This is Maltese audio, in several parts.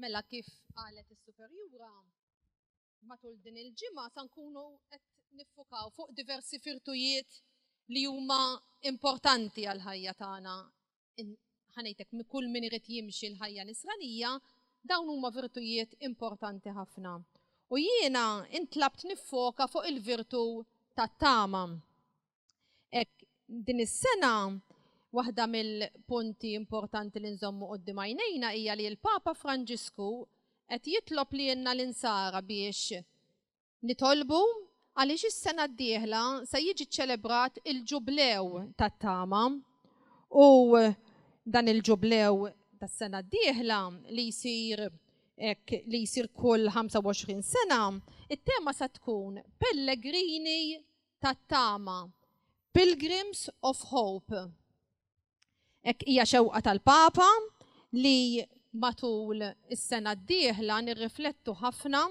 Mela kif qalet is-superjura matul din il-ġimgħa sa nkunu qed niffukaw fuq diversi firtujiet li huma importanti għal ħajja tagħna. ħanejtek kull min irid jimxi l-ħajja nisranija, dawn huma virtujiet importanti ħafna. U jiena intlabt niffoka fuq il-virtu tat-tama. Ek din is-sena waħda mill-punti importanti li nżommu qoddim għajnejna hija li l-Papa Franġisku qed jitlob li jenna l-insara biex Nitolbu għaliex is-sena d-dieħla se jiġi ċċelebrat il-Ġublew tat-Tama u dan il-Ġublew tas-sena d-dieħla li jsir hekk li jsir kull 25 sena, it-tema se tkun Pellegrini tat-Tama, Pilgrims of Hope. Ek hija xewqa tal-Papa li matul is-sena d-dieħla nirriflettu ħafna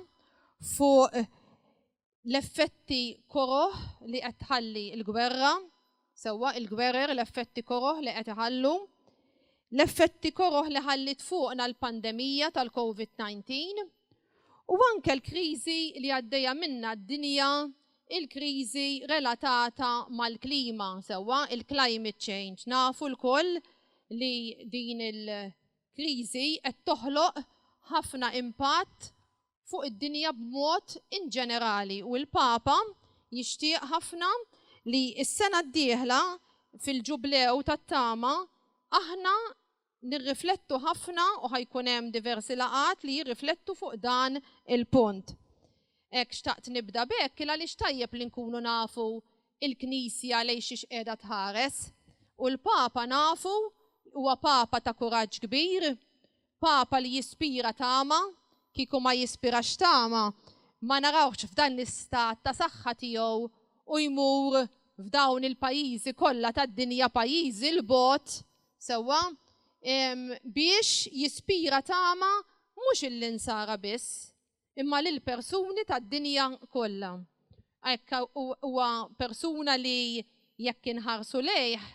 fuq l-effetti koroh li qed tħalli l-gwerra, sewwa il-gwerer l-effetti koroh li qed iħallu, l-effetti koroh li ħallit fuqna l-pandemija tal-COVID-19 u anke l-kriżi li għaddejja minna d-dinja il-kriżi relatata mal-klima, sewwa il-climate change. Nafu lkoll li din il-kriżi qed toħloq ħafna impatt fuq id-dinja b'mod inġenerali u l-Papa jixtieq ħafna li s-sena d-dieħla fil-Ġublew tat-Tama aħna nirriflettu ħafna u ħajkun hemm diversi laqgħat li jirriflettu fuq dan il-punt. Hekk xtaqt nibda b'hekk il għaliex tajjeb li nkunu nafu il-Knisja lejn xiex qiegħda tħares. U l-Papa nafu huwa Papa ta' kuraġġ kbir, Papa li jispira tama, kieku ma jispirax tama ma narawhx f'dan l-istat ta' saħħa tiegħu u jmur f'dawn il-pajjiżi kollha tad-dinja pajjiżi 'l bogħod Sewwa, biex jispira tama mhux lill-Insara biss, imma lill-persuni tad-dinja kollha. Hekk huwa persuna li jekk inħarsu lejh,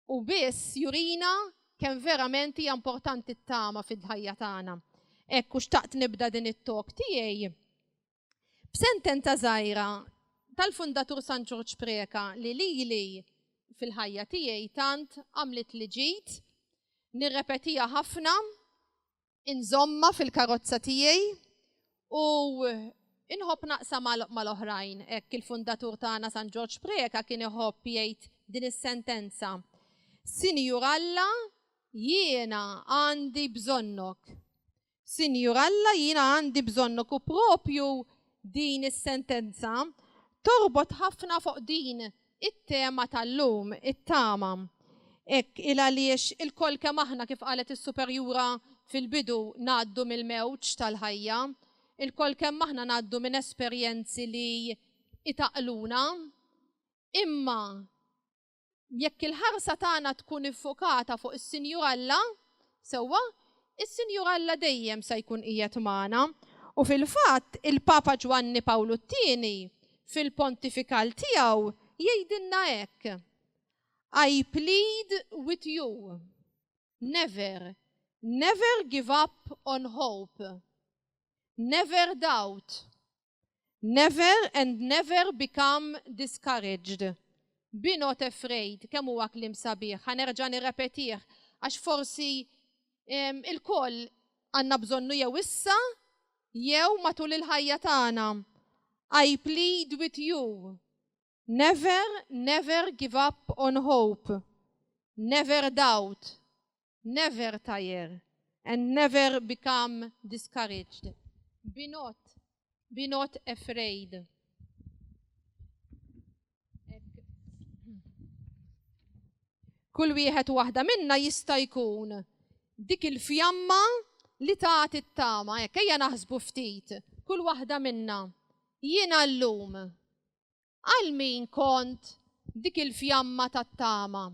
hu biss jurina kemm verament hija importanti t-tama fil-ħajja tagħna. Hekk u xtaqt nibda din it-talk tiegħi B'sentenza żgħira tal-fundatur San Ġorġ Preka li lili fil-ħajja tiegħi tant għamlet li ġid, nirrepetija ħafna, inżomma fil-karozza tiegħi u inħobb naqsa mal-oħrajn. Hekk il-fundatur tagħna San Ġorġ Preka kien iħobb jgħid din is-sentenza. Sinjur Alla, jiena għandi bżonnok. Sinjur Alla, jiena għandi bżonnok u proprju din is-sentenza torbot ħafna fuq din it-tema tal-lum, it-tama. Hekk il għaliex ilkoll kemm aħna kif qalet is-Superjura fil-bidu ngħaddu mill-mewġ tal-ħajja, ilkoll kemm aħna ngħaddu minn esperjenzi li jtaqluna, imma Jekk il-ħarsa tagħna tkun iffokata fuq is-Sinjur Alla, sewwa, is-Sinjur Alla dejjem se jkun qiegħed magħna. U fil-fatt, il-Papa Ġwanni Pawlu t-Tieni, fil-pontifikal tiegħu, jgħidilna hekk, I plead with you, never, never give up on hope, never doubt, Never and never become discouraged. Be not afraid. Kemm huwa kliem sabiħ. Ħanerġa' nirrepetih għax forsi il-koll għandna bżonnu jew issa jew matul il-ħajja tagħna. I plead with you. Never, never give up on hope, never doubt, never tire, and never become discouraged. Be not, be not afraid. Kull wieħed waħda minna jista' jkun dik il-fjamma li tagħti t-tama, hekk ejja naħsbu ftit, kull waħda minna. Jiena llum Għal min kont dik il-fjamma tat-tama?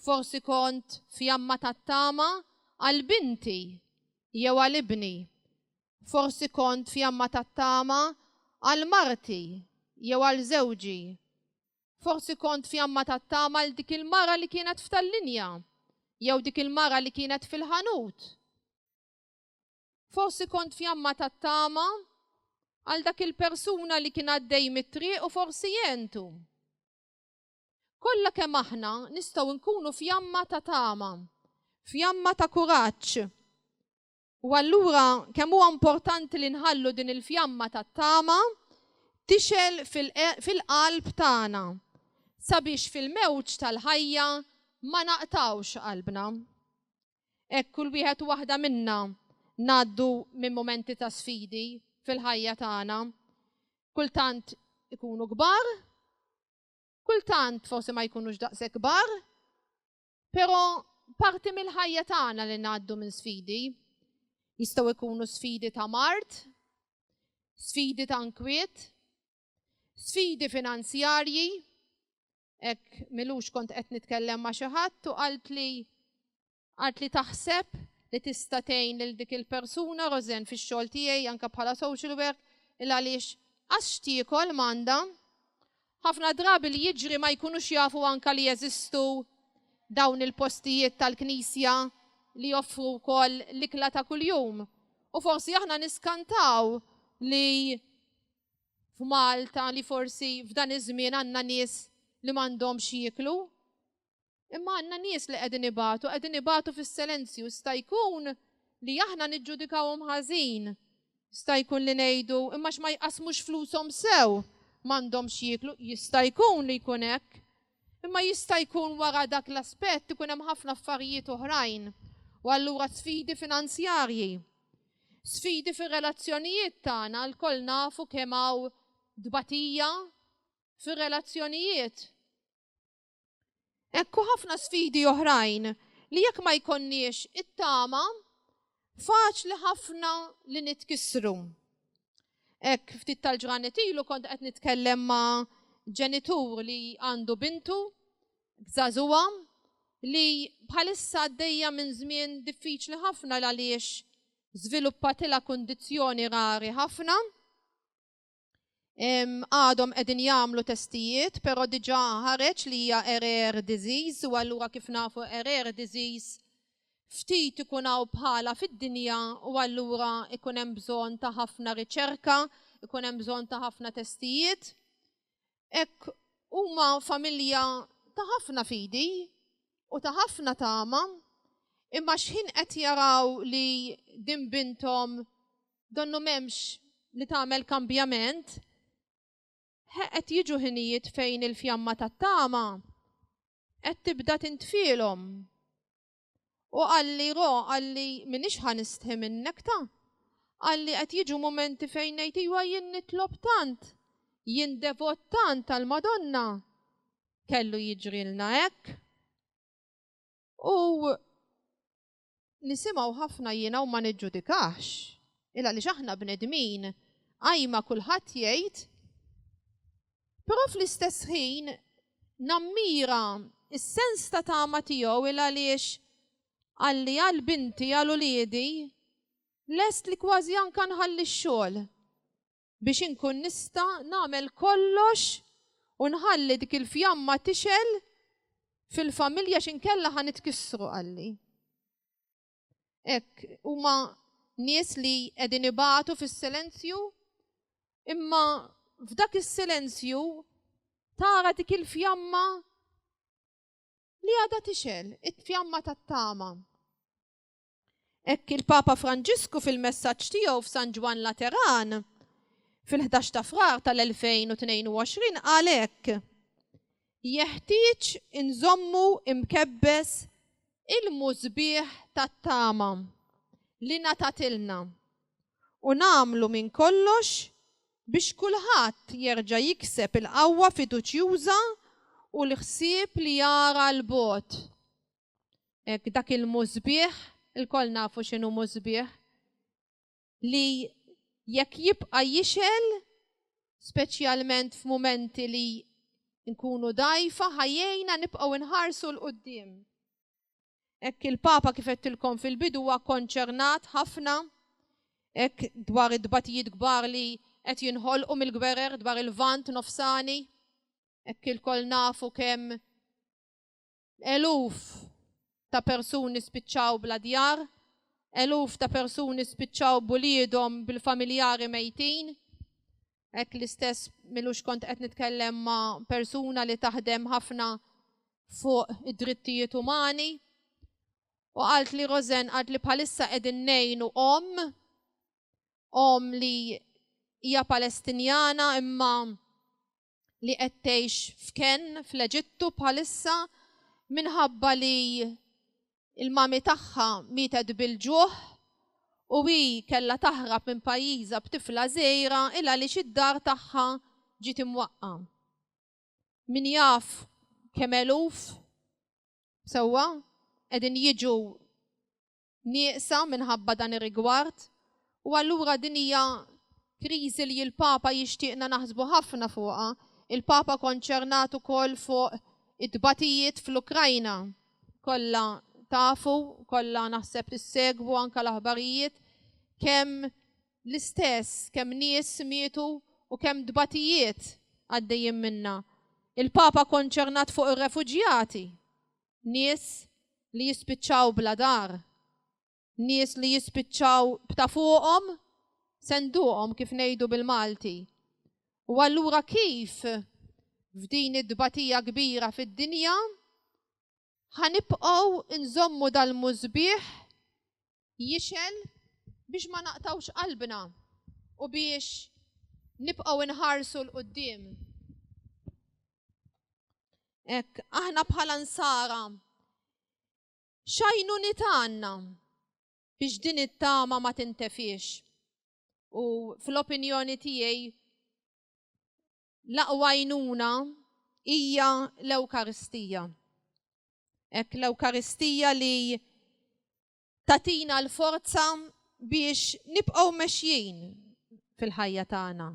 Forsi kont fjamma tat-tama għal binti jew għal ibni. Forsi kont fjamma tat-tama għal marti jew għal żewġi. Forsi kont fjamma tat-tama għal dik il-mara li kienet f'tal-linja jew dik il-mara li kienet fil-ħanut. Forsi kont fjamma tat-tama għal dak il-persuna li kien għaddej mit-triq u forsi jentu. Kollha kemm aħna nistgħu nkunu fjamma ta' tama, fjamma ta' kuraġġ. U allura kemm huwa importanti li nħallu din il-fjamma tat-tama tixel fil-qalb tagħna sabiex fil-mewġ tal-ħajja ma naqtawx qalbna. Hekk kull wieħed u waħda minna ngħaddu minn mumenti ta' sfidi fil-ħajja tagħna. Kultant ikunu kbar, kultant forsi ma jkunux daqshekk kbar, però parti mill-ħajja tagħna li ngħaddu minn sfidi. Jistgħu jkunu sfidi ta' mart, sfidi ta' nkwiet, sfidi finanzjarji, hekk milux kont qed nitkellem ma' xi ħadd u qalt li qalt li taħseb li tista' tgħin lil dik il-persuna Rosen fix-xogħol tiegħi anke bħala social work il għaliex qas x'tiekol m'għandha. Ħafna drabi li jiġri ma jkunux jafu anke li jeżistu dawn il-postijiet tal-Knisja li joffru wkoll l-ikla ta' kuljum. U forsi aħna niskantaw li f'Malta li forsi f'dan iż-żmien għandna nies li m'għandhomx jieklu. Imma għandna nies li qegħdin ibatu, qegħdin ibatu fis-selenzju. Jista' jkun li aħna niġġudikawhom ħażin. Jista' jkun li ngħidu, imma għax ma jqassmux flushom sew, m'għandhomx jieklu. Jista' jkun li jkun hekk. Imma jista' jkun wara dak l-aspett ikun hemm ħafna affarijiet oħrajn u allura sfidi finanzjarji. Sfidi fir-relazzjonijiet tagħna lkoll nafu kemm hawn tbatija fir-relazzjonijiet. Hekk u ħafna sfidi oħrajn li jekk ma jkollniex it-tama faċli ħafna li nitkissru. Hekk ftit tal-ġranet ilu kont qed nitkellem ma' ġenitur li għandu bintu b'żagħżugħa li bħalissa għaddejja minn żmien diffiċli ħafna l-għaliex żviluppatilha kundizzjoni rari ħafna. Għadhom qegħdin jagħmlu testijiet, però diġà ħareġ li hija rare disease u allura kif nafu rare disease ftit ikun hawn bħala fid-dinja u allura ikun hemm bżonn ta' ħafna riċerka, ikun hemm bżonn ta' ħafna testijiet. hekk huma familja ta' ħafna fidi u ta' ħafna tama, imma xħin qed jaraw li din bintom donnu memx li tagħmel kambjament, qed jiġu ħinijiet fejn il-fjamma tat-tama qed tibda tintfielhom. U qalli Ro, qalli minix ħa nistħi minnek ta. Qalli qed jiġu mumenti fejn ngħid iwa jien nitlob tant, jien devot tant tal-Madonna. Kellu jiġrilna hekk. U nisimgħu ħafna jiena u ma niġġudikahx. Il għaliex aħna bnedmin, qajma kulħadd jgħid Però fl-istess ħin nammira s-sens ta' tama tiegħu il għaliex qalli għal binti, għal uliedi, lest li kważi anke nħalli x-xogħol biex inkun nista' nagħmel kollox u nħalli dik il-fjamma tixgħel fil-familja x'inkella ħa nitkissru, qalli. Hekk huma nies li qegħdin ibatu fis-silenzju, imma f'dak is-silenzju tara dik il-fjamma li għadha tixel, it-fjamma tat-tama. Hekk il-Papa Franġisku fil-messaġġ tiegħu f'San Ġwann Lateran fil-11 ta' Frar tal-2022 qal hekk, jeħtieġ inżommu imkebbes ilmu sbieħ tat-tama li ngħatatilna u nagħmlu minn kollox biex kulħadd jerġa' jikseb il-qawwa fiduċjuża u l-ħsieb li jara 'l bogħod. Hekk dak il-lmu sbieħ, ilkoll nafu x'inhu lmu sbieħ, li jekk jibqa' jixgħel, speċjalment f'mumenti li nkunu dgħajfa, ħa jgħinna nibqgħu nħarsu 'l quddiem. Hekk il-Papa kif għedtilkom fil-bidu huwa konċernat ħafna hekk dwar it-tbatijiet kbar li qed jinħolqu mill-gwerer dwar il-Lvant Nofsani, hekk ilkoll nafu kemm Eluf ta' persuni spiċċaw bla djar, eluf ta' persuni spiċċaw b'uliedhom bil-familjari mejtin. Hekk l-istess milux kont qed nitkellem ma' persuna li taħdem ħafna fuq id-drittijiet umani u għalt li Rosen għalt li bħalissa qegħdin nejnu om, om li hija Palestinjana imma li qed tgħix f'kenn fl-Eġittu bħalissa minħabba li il-mami tagħha mietet bil-ġuħ u hi kellha taħrab minn pajjiżha b'tifla żgħira il għaliex id-dar tagħha ġiet imwaqqa. Min jaf kemm eluf sewwa qegħdin jiġu nieqsa minħabba dan ir-rigward u allura din hija kriżi li l-Papa jixtieqna naħsbu ħafna fuqha. Il-Papa konċernat ukoll fuq it-tbatijiet fl-Ukrajna. Kollha tafu, kollha naħseb tissegwu anke l-aħbarijiet kemm l-istess, kemm nies mietu u kemm tbatijiet għaddejjin minnha. Il-Papa konċernat fuq ir-refuġjati nies li jispiċċaw bla dar, nies li jispiċċaw b'ta' fuqhom senduqhom kif ngħidu bil-Malti. U allura kif f'din id-dbatija kbira fid-dinja ħanibqgħu nżommu dal-mużbieħ jixgħel biex ma naqtgħux qalbna u biex nibqgħu nħarsu l qudiem Ek, aħna bħala nsara, xajnu nitanna biex din it-tama ma tintefiex. U fl-opinjoni tiegħi l-aqwa għajnuna hija l-Ewkaristija. Hekk l-Ewkaristija li tatina l-forza biex nibqgħu mexjin fil-ħajja tagħna.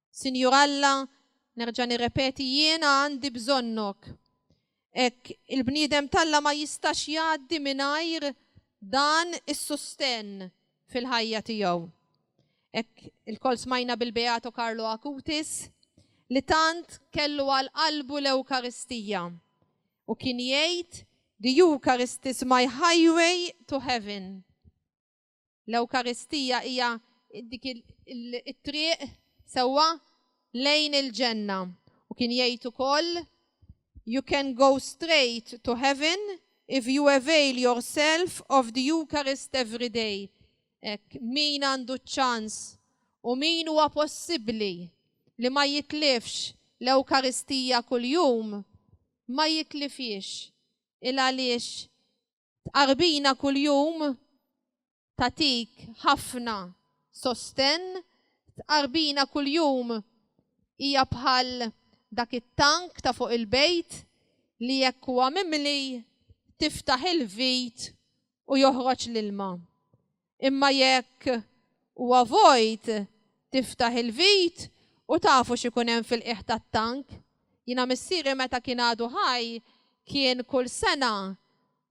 Sinjur Alla, nerġa' nirrepeti jiena għandi bżonnok. Hekk, il-bniedem t'Alla ma jistax jgħaddi mingħajr dan is-sustenn fil-ħajja tiegħu. Hekk ilkoll smajna bil-Beato Carlo Acutis li tant kellu għal qalbu l-Ewkaristija u kien jgħid, The Eucharist is my highway to heaven. L-Ewkaristija hija dik it-triq sewwa lejn il-ġenna. U kien jgħid ukoll, You can go straight to heaven if you avail yourself of the Eucharist every day. Hekk min għandu ċ-ċans u min huwa possibbli li ma jitlifx l-Ewkaristija kuljum, ma jitlifhiex il għaliex Tqarbina kuljum tagħtik ħafna sostenn, tqarbina kuljum hija bħal dak it-tank ta' fuq il-bejt li jekk huwa mimli tiftaħ il-vit u joħroġ l-ilma. imma jekk huwa vojt tiftaħ il-vit u tafu x'ikun hemm fil-qiegħ tat-tank. Jiena missieri meta kien għadu ħaj kien kull sena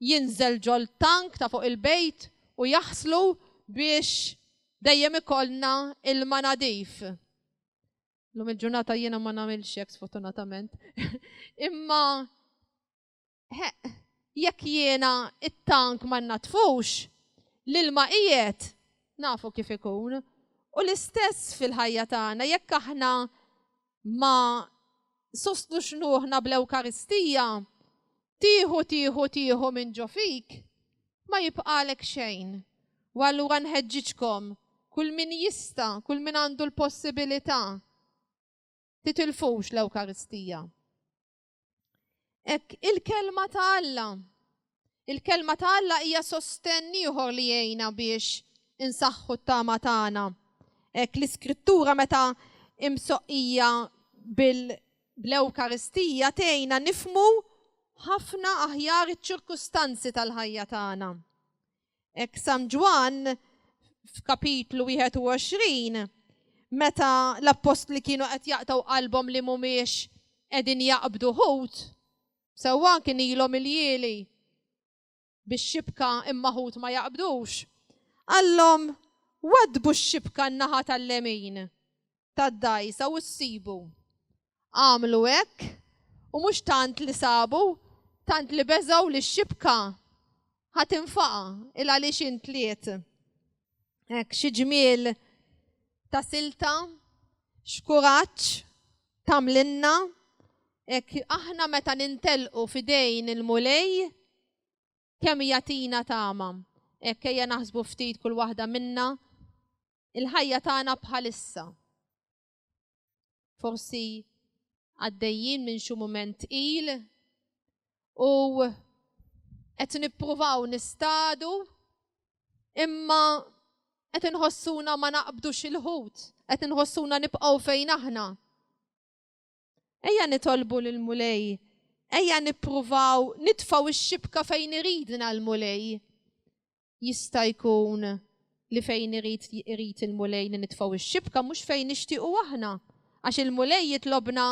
jinżel ġol-tank ta' fuq il-bejt u jaħslu biex dejjem ikollna ilma nadif. Llum il-ġurnata jiena ma nagħmilx hekk sfortunatament imma Heq, jekk jiena t-tank ma nnaddfux, l-ilma qiegħed, nafu kif ikun. U l-istess fil-ħajja tagħna, jekk aħna ma sostnux ruħna bl-Ewkaristija, tieħu tieħu tieħu minn ġo fik, ma jibqalek xejn. U allura nħeġġiġkom, kull min jista, kull min għandu l-possibilità, titilfux l-Ewkaristija. Ek, il-kelma ta' Alla. Il-kelma ta' Alla hija sostenn ieħor li jgħinna biex insaħħu t-tama tagħna. Ek, l-iskrittura meta imsoqqija bil-Ewkaristija tgħinna nifmu ħafna aħjar iċ-ċirkustanzi tal-ħajja tagħna. Ek San Ġwann f'kapitlu 21 meta l-appostli kienu qed jaqtaw qalbhom li mhumiex qegħdin jaqbdu ħut, sewwa kien ilhom il-jieli biex xibka imma ħut ma jaqbdux. Għallhom wadbu x-xibka n-naħa tal-lemin tad-dgħajsa u ssibu. Għamlu hekk u mhux tant li sabu, tant li beżgħu li x-xibka ħa tinfaqa il għaliex intliet. Hekk xi ġmiel ta' silta, xkuraġġ tamlinna, hekk aħna meta nintelqu fidejn il-mulej kemm jatina tama. Hekk ejja naħsbu ftit kull waħda minna il-ħajja tagħna bħalissa. Forsi għaddejjin minn xi mument il u qed nippruvaw nistadu imma qed inħossuna ma naqbdux il-ħut, qed inħossuna nibqgħu fejn aħna. Ejja nitolbu lil mulej ejja nippruvaw nitfaw ix-xibka fejn iridna l-mulej. jista' jkun li fejn irid irid il-Mulej li nitfgħu x-xibka mhux fejn nixtiequ aħna, għax il-Mulej jitlobna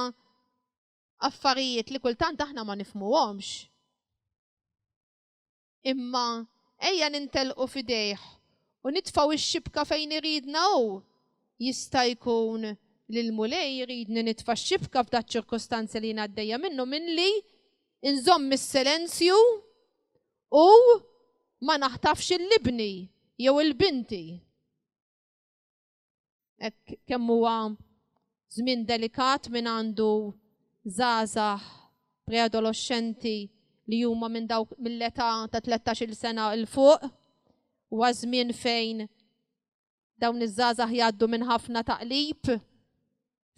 affarijiet li kultant aħna ma nifhmuhomx. Imma ejja nintelqu f'idejh u nitfgħu x-xibka fejn iridna hu. Jista' jkun li l-Mulej jridni nitfa' x-xibka f'daċ-ċirkustanza li jien għaddejja minnu milli nżomm is-selenzju u ma naħtafx il-libni jew il-binti. Ek kemm huwa żmien delikat minn għandu żgħażagħ preadolescenti li huma minn dawk mill-età ta' 13-il sena il fuq huwa żmien fejn Dawn iż-żgħażagħ jgħaddu minn ħafna taqlib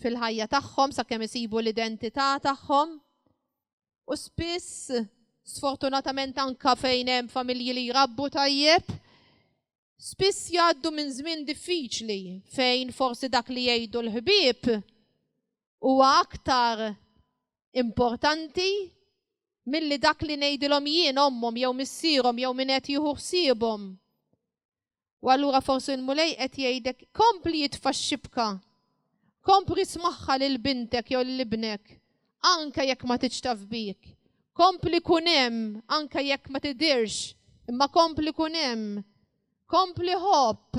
fil-ħajja tagħhom sakemm isibu l-identità tagħhom. U spiss, sfortunatament anka fejn hemm familji li jrabbu tajjeb, spiss jgħaddu minn żmien diffiċli fejn forsi dak li jgħidu l-ħbieb huwa aktar importanti milli dak li ngħidilhom jien ommhom jew missierhom jew min qed jieħu ħsiebhom. U allura forsi l-Mulej qed jgħidek, kompli itfa' x-xibka, kompli ismagħha lil bintek jew lil ibnek, anke jekk ma tridx taf bik, kompli kun hemm anke jekk ma tidhirx, imma kompli kun hemm, kompli ħobb.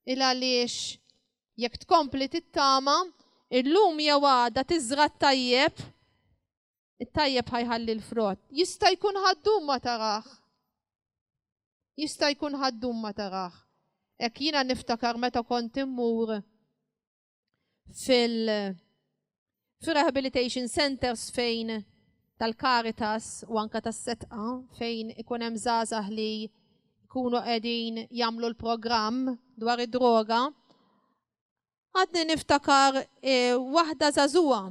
Il għaliex jekk tkompli tittama, illum jew għada tiżra' t-tajjeb, It-tajjeb ħajħalli l-frott. Jista' jkun ħaddum ma taraħ. Jista' jkun ħaddum ma taraħ. Ek jina niftakar meta kont immur fil rehabilitation centers fejn tal-Caritas u anka tas-setqa fejn ikun hemm żgħażagħ li jkunu qegħdin jagħmlu l-programm dwar id-droga Għadni niftakar e, waħda zazuwa.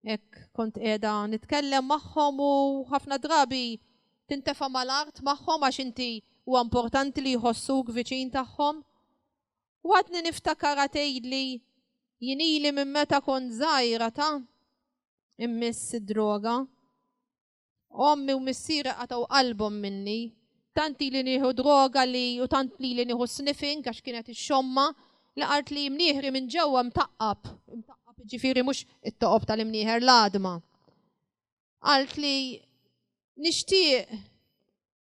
Ek kont edha nitkellem magħhom u ħafna drabi tintefa mal-art magħhom għax inti u importanti li jħossuk viċin tagħhom. U għadni niftakar għatejli jinili minn meta kont zaħira ta' immiss id-droga. Ommi u missieri qatgħu qalbhom minni. Tant ili nieħu droga li u tant lili nieħu sniffing għax kien qed ixxomma li qart li imnieħri minn ġewwa mtaqqab, imtaqqab jiġifieri mhux it-toqob tal-imnieħer l-għadma. Qalt li nixtieq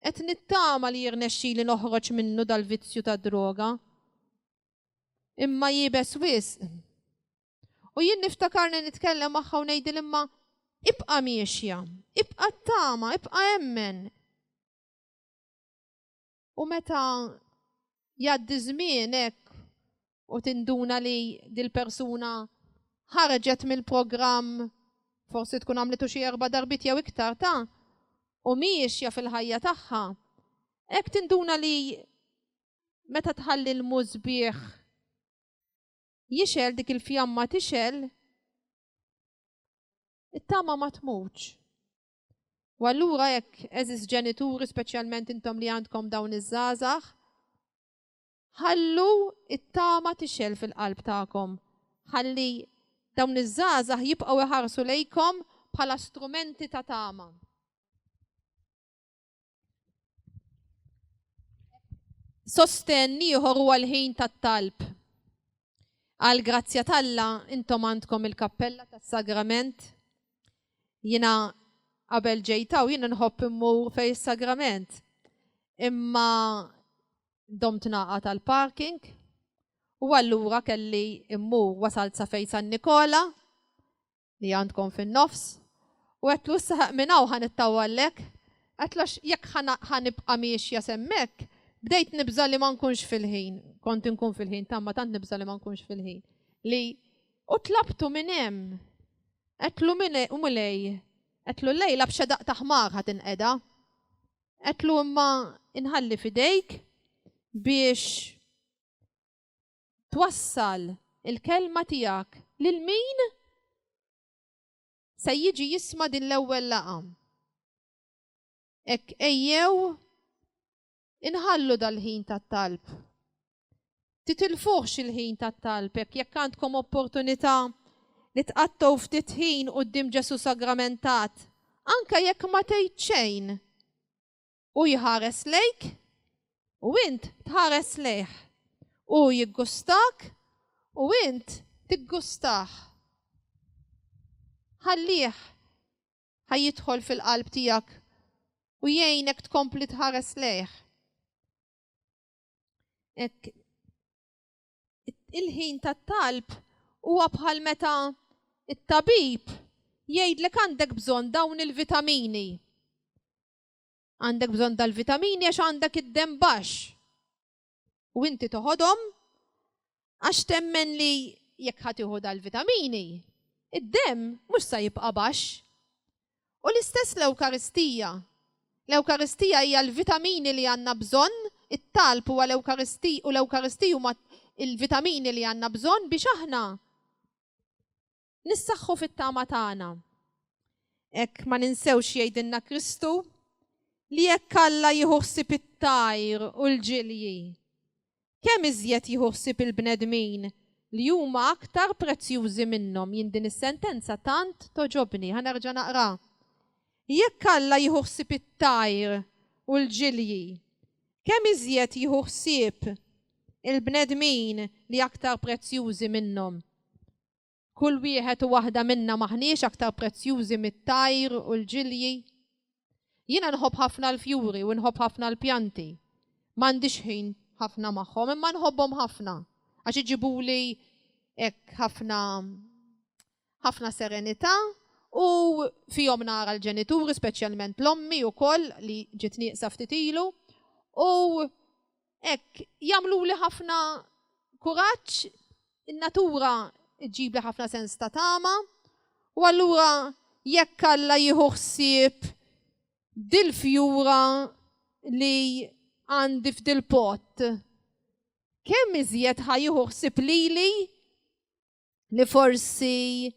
qed nittama li jirnexxili noħroġ minnu dal-vizzju tad-droga. Imma iebes wisq. U jien niftakarni nitkellem magħha u ngħidil imma ibqa' miexja, ibqa' t-tama, ibqa' emmen. U meta jgħaddi żmien hekk u tinduna li dil-persuna ħarġet mill-programm forsi tkun għamlitu xi erba' darbit jew iktar ta' u miexja fil-ħajja tagħha, hekk tinduna li meta tħalli l-mużbieħ jixgħel dik il-fjamma tixgħel, it-tama ma tmutx. U allura jekk eżis ġenituri speċjalment intom li għandkom dawn iż-żgħażagħ, ħallu it-tama tixgħel fil-qalb tagħkom. Ħalli dawn iż-żgħażagħ jibqgħu iħarsu lejkom bħala strumenti ta' tama. Sostenn ieħor huwa l-ħin tat-talb. Għal grazzja talla intom għandkom il-kappella tas-sagrament. Jina qabel ġejtaw jina nħobb immur fej is-sagrament. Imma dom tnaqa tal-parking u allura kelli immur wasalt sa fej San Nikola li għandkom fin-nofs, u għedtlu issa ħa minn hawn ħa nittawallek, għedtlu għax jekk ħa nibqa' miexja s'hemmhekk, bdejt nibża' li ma nkunx fil-ħin, kont inkun fil-ħin ta' imma tant nibża' li ma nkunx fil-ħin, li u tlabtu minn hemm. Għedtlu min u Mulej, għedtlu llejla b'xedaq ta' ħmar ħa tinqeda. Għedtlu imma inħalli f'idejk biex twassal il-kelma tiegħek lil min se jiġi jisma' din l-ewwel laqgħa. Hekk ejjew inħallu dal-ħin tat-talb. Titilfuhx il-ħin tat-talb hekk jekk għandkom opportunità li tqattgħu ftit ħin quddiem Ġesù sagramentat, anke jekk ma tgħid xejn. Hu jħares lejk u int tħares lejh. Hu jiggustak u int tiggustah. Ħallih ħa jidħol fil-qalb tiegħek u jgħinek tkompli tħares lejh. Ek, il-ħin tat-talb huwa bħal meta it-tabib jgħidlek għandek bżonn dawn il-vitamini. Għandek bżonn dal-vitamini għax għandek id-dem baxx. U inti toħodhom għax temmen li jekk ħatiħu dal-vitamini, id-dem mhux sa jibqa' baxx. U l-istess l-Ewkaristija. L-Ewkaristija hija l-vitamini li għandna bżonn, it-talb huwa l-Ewkaristija u l-Ewkaristija huma il-vitamini li għandna bżonn biex aħna nissaħħu fit-tama tagħna. Hekk ma ninsewx jgħidilna Kristu li jekk Alla jieħu ħsieb it-tajr u l-ġilji, kemm iżjed jieħu ħsieb il-bnedmin li huma aktar prezzjużi minnhom jien din is-sentenza tant toġobni ħanerġa' naqra. Jekk Alla jieħu ħsieb it-tajr u l-ġilji, kemm iżjed jieħu ħsieb il-bnedmin li aktar prezzjużi minnhom. Kull wieħed u waħda minna m'aħniex aktar prezzjużi mit-tajr u l-ġilji? Jiena nħobb ħafna l-fjuri u nħobb ħafna l-pjanti. M'għandix ħin ħafna magħhom imma nħobbhom ħafna għax iġibuli hekk ħafna ħafna serenità u fihom nara l-ġenituri speċjalment l-ommi wkoll li ġiet nieqsa ftit ilu u Ek, jamlu li ħafna kuraċ, il-natura ġib li ħafna sens ta' tama, u allura jekk alla jieħu ħsieb dil-fjura li għandi f'dil-pot, kemm iżjed ħajieħu ħsieb lili li forsi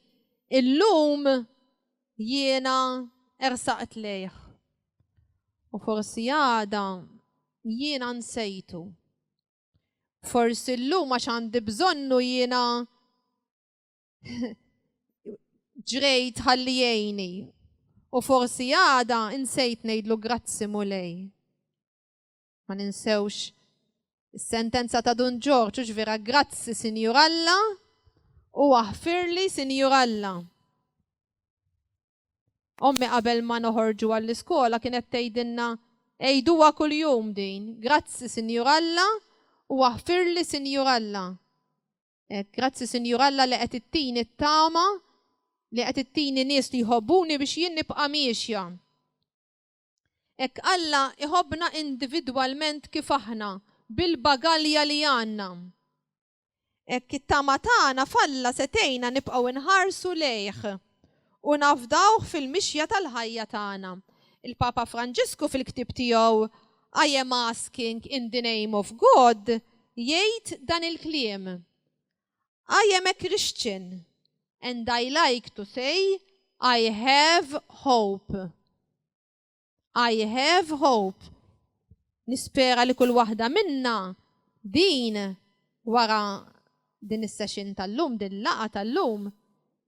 illum jiena ersaqt lejh. U forsi għada jiena nsejtu. Forsi llum għax għandi bżonnu jiena ġrejt ħalli jgħini. U forsi għada insejt ngħidlu grazzi mulej. Ma ninsewx is-sentenza ta' Dun Ġorġ u vera grazzi Sinjur Alla u aħfirli Sinjur Alla. Ommi qabel ma noħorġu għall-iskola kienet tgħidilna ejduha kuljum din, grazzi Sinjur Alla u aħfirli Sinjur Alla. Eh, grazzi Sinjur Alla li qed ittini t-tama li qed ittini nies li jħobbuni biex jien nibqa' miexja. Hekk Alla jħobbna individwalment kif aħna, bil-bagalja li għandna. Hekk it-tama tagħna f'Alla se tgħinna nibqgħu nħarsu lejh u nafdawh fil-mixja tal-ħajja tagħna. Il-Papa Franġisku fil-ktieb tiegħu I am Asking in the Name of God jgħid dan il-kliem, I am a Christian and I like to say I have hope. I have hope. Nispera li kull waħda minna din wara din is-session tal-lum, din laqa tal-lum,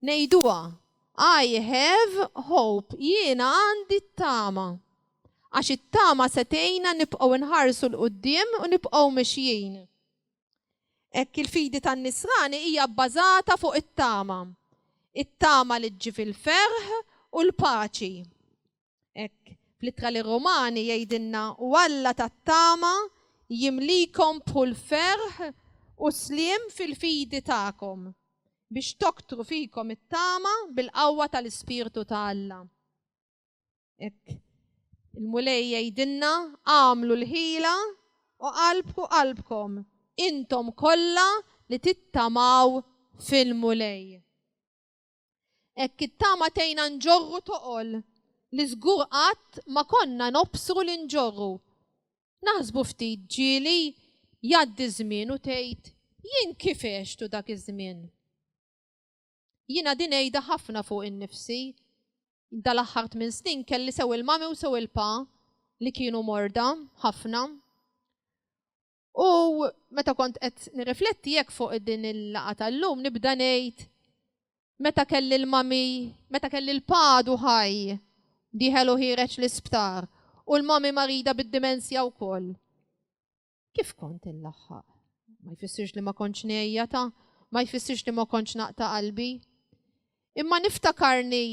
nejduha I have hope, jiena għandi t-tama. Għax it-tama setejna nibqgħu nħarsu l-qoddim u nibqgħu mexjin. Hekk il-fidi tan-nisrani hija bbażata fuq it-tama. It-tama li ġġib il-ferħ u l-paċi. Hekk fl-ittra li Romani jgħidilna u Alla tat-tama jimlikom bħul ferħ u sliem fil-fidi tagħkom biex toktru fikom it-tama bil-qawwa tal-Ispirtu ta' Alla. Ek, il-mulej jgħidilna għamlu l-ħila u qalbku qalbkom intom kollha li tittamaw fil-mulej. Ek it-tama tejna nġorru toqol li żgur qatt ma konna nobsru li nġorru. Naħsbu ftit ġieli jgħaddi żmien u tgħid jien kif għextu dak iż-żmien. Jiena din għidha ħafna fuq innifsi. Dal-aħħar tmien snin kelli sew il-mami u sew il-pa li kienu morda ħafna. U meta kont qed nirrifletti jekk fuq din il-laqa tal-lum nibda ngħid meta kelli l-mami, meta kelli l-padu ħaj diħelu ħireċ l-isptar u l-mami marida bid-dimensja wkoll. Kif kont inlaħħaq? Ma jfissirx li ma kontx ngħejjata, ma jfissirx li ma kontx naqta' qalbi. Imma niftakarni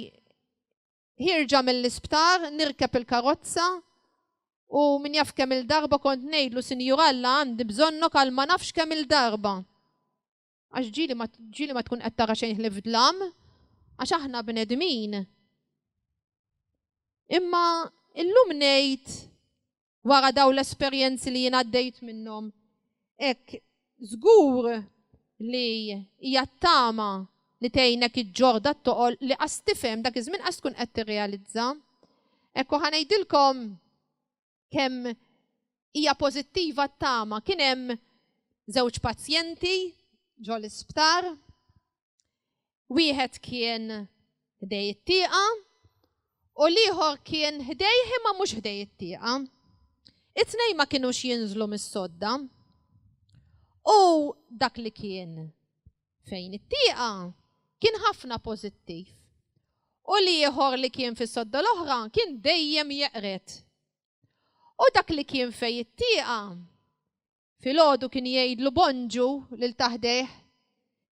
ħirġa mill-isptar, nirkeb il-karozza u min jaf kemm il-darba kont ngħidlu Sinjur Alla għandi bżonnok għal ma nafx kemm il-darba. Għax ġieli ma, ġieli ma tkun qed tara xejn ħlief dlam, għax aħna bnedmin. Imma illum ngħid wara daw l-esperjenzi li jien għaddejt minnhom. Ek, żgur li hija tama li tgħinek iġġorda t-toqol li qas tifhem dak iż-żmien qas tkun qed tirrealizza. Ekku ħanejdilkom kemm hija pożittiva t-tama. Kien hemm żewġ pazjenti ġol isptar Wieħed kien ħdej it-tieqa u l-ieħor kien ħdej imma mhux ħdej it-tieqa. It-tnej ma kienux jinżlu mis-sodda. U dak li kien fejn it-tieqa kien ħafna pożittiv. U li ieħor li kien fis-sodda l-oħra kien dejjem jeqret. U dak li kien fej it-tieqa Filgħodu kien jgħidlu bonġu lil ta' ħdejh.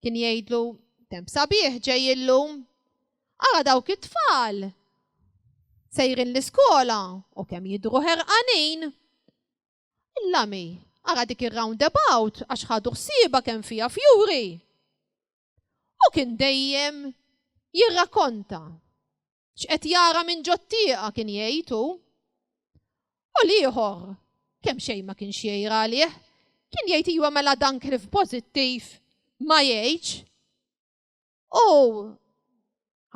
Kien jgħidlu, Temp sabiħ ġej illum. Ara dawk it-tfal! Sejrin l-iskola u kemm jidhru ħerqanin. Il-lami, ara dik ir-roundabout għax ħadu ħsiebha kemm fiha fjuri. U kien dejjem jirrakonta. X'qed jara minn ġottieqa kien jgħidu. U l-ieħor kemm xejn ma kienx jgħira għalih, kien jgħid iwa mela dan klif pożittiv ma jgħidx. U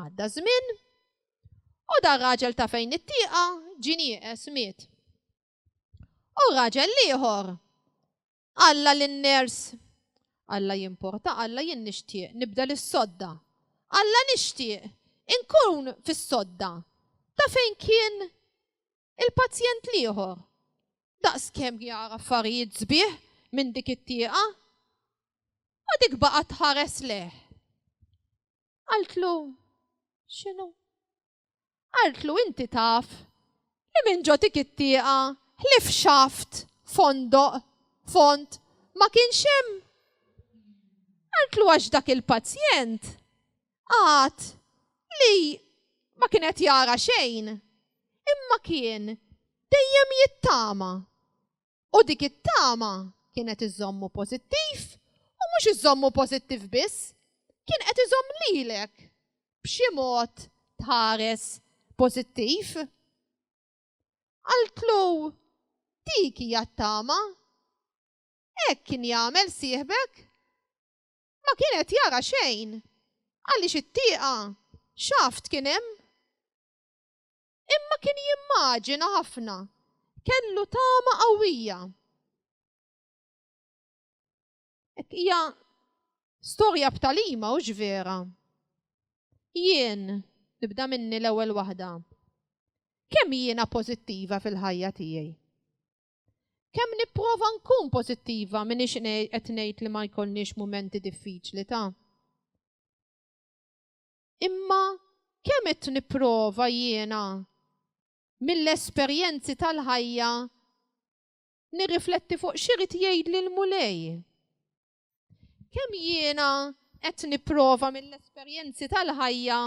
għadda żmien u dar raġel ta' fejn it-tieqa ġinieqes miet. U raġel l-ieħor Alla lin-ners. Alla jimporta, Alla jien nixtieq nibdel is-sodda. Alla nixtieq inkun fis-sodda ta' fejn kien il-pazjent l-ieħor. Daqskemm jara affarijiet sbieħ minn dik it-tieqa. U dik baqgħet tħares lejh. Qaltlu, X'inhu? Qaltlu inti taf li minn ġo dik it-tieqa ħlief xaft, fondoq, fond, ma kienx hemm? Qaltlu għax dak il-pazjent għad li ma kien qed jara xejn, imma kien dejjem jittama. U dik it-tama kienet iżommu pożittiv u mhux iżommu pożittiv biss, kien qed iżomm lilek b'xi mod tħares pożittiv. Għaltlu dik hija t-tama. Hekk kien jagħmel sieħbek. Ma kien qed jara xejn għaliex it-tieqa xaft kien hemm. imma kien jimmaġina ħafna. Kellu tama qawwija. Hija storja b'talima u vera. Jien nibda minni l-ewwel waħda. Kemm jiena pożittiva fil-ħajja tiegħi? Kemm nipprova nkun pożittiva minn ix qed ngħid li ma jkollniex mumenti diffiċli ta' Imma kemm qed nipprova jiena mill-esperjenzi tal-ħajja nirrifletti fuq x'irid jgħidli l-Mulej? Kemm jiena qed nipprova mill-esperjenzi tal-ħajja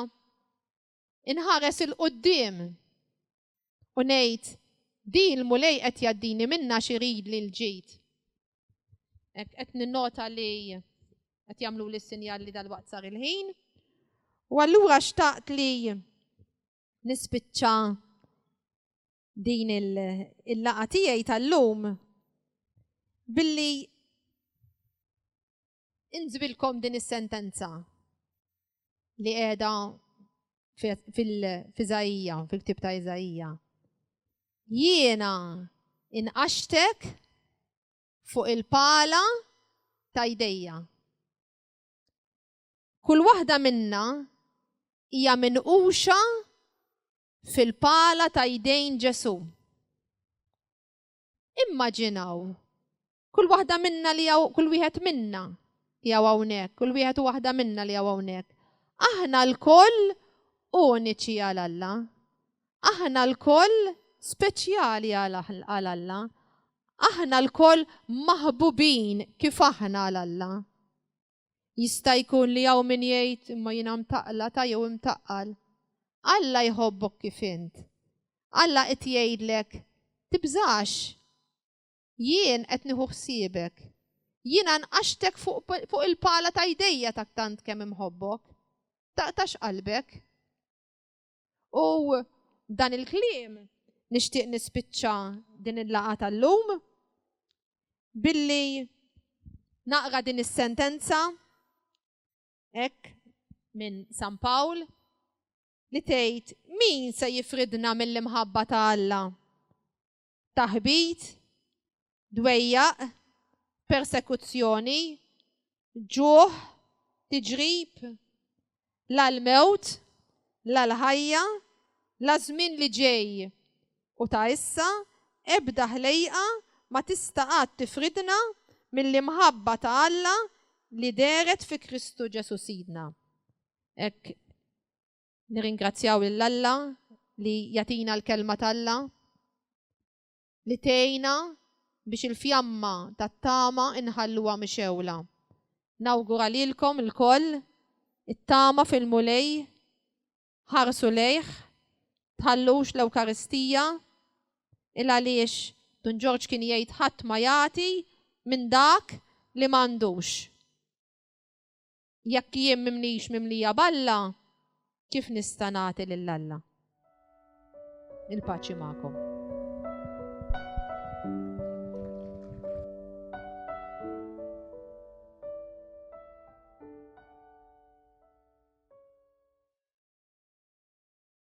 inħares il-qudiem U ngħid, di l-mulej qed jaddini minna xirid li l-ġid. Qed ninnota li qed jagħmlu li sinjal li dal-waqt sar il-ħin. U allura xtaqt li nispiċċa din il-laqa tiegħi tal-lum billi Inżbilkom din is-sentenza li qiegħda fil-Iżajija, fil-ktib ta' Iżajija. Jiena inqaxtek fuq il-pala ta' jdejja. Kull waħda minna hija minquxa fil-pala ta' jdejn Ġesu. Immaġinaw, kull waħda minna li għaw, kull wieħed minna li għaw hawnhekk, kull wieħed u waħda minna li għaw hawnhekk. Aħna l-koll uniċi għal Alla. Aħna l-koll speċjali għal Alla. Aħna l-koll maħbubin kif aħna għal Alla. Jista' jkun li hawn min jgħid, imma jiena mtaqlata jew imtaqqal. Alla jħobbok kif int. Alla qed jgħidlek, tibżax. Jien qed nieħu ħsiebek. Jiena nqaxtek fuq il-pala ta' jdejja ta' tant kemm imħobbok. Taqtax qalbek. U dan il-kliem nixtieq nispiċċa din il-laqa tal-lum billi naqra din is-sentenza hekk minn San Pawl li tgħid min se jifridna mill-imħabba ta' Alla? taħbit, dwejjaq, persekuzzjoni, ġuħ, tiġrib, la l-mewt, la l-ħajja, la żmien li ġej u ta' issa ebda ħlejqa ma tista' qatt tifridna mill-imħabba ta' Alla li dehret fi Kristu Ġesù Sidna. Hekk Nirringrazzjaw lil Alla li jagħtina l-kelma t'Alla li tgħinna biex il-fjamma tat-tama inħalluha mixewla. Nawgura lilkom ilkoll it-tama fil-Mulej, ħarsu lejh, tħallux l-Ewkaristija, il għaliex Dun Ġorġ kien jgħid ħadd ma jagħti minn dak li m'għandux. Jekk jien m'imnix mimlija b'Alla, kif nista' nagħti lil Alla? Il-paċi magħkom.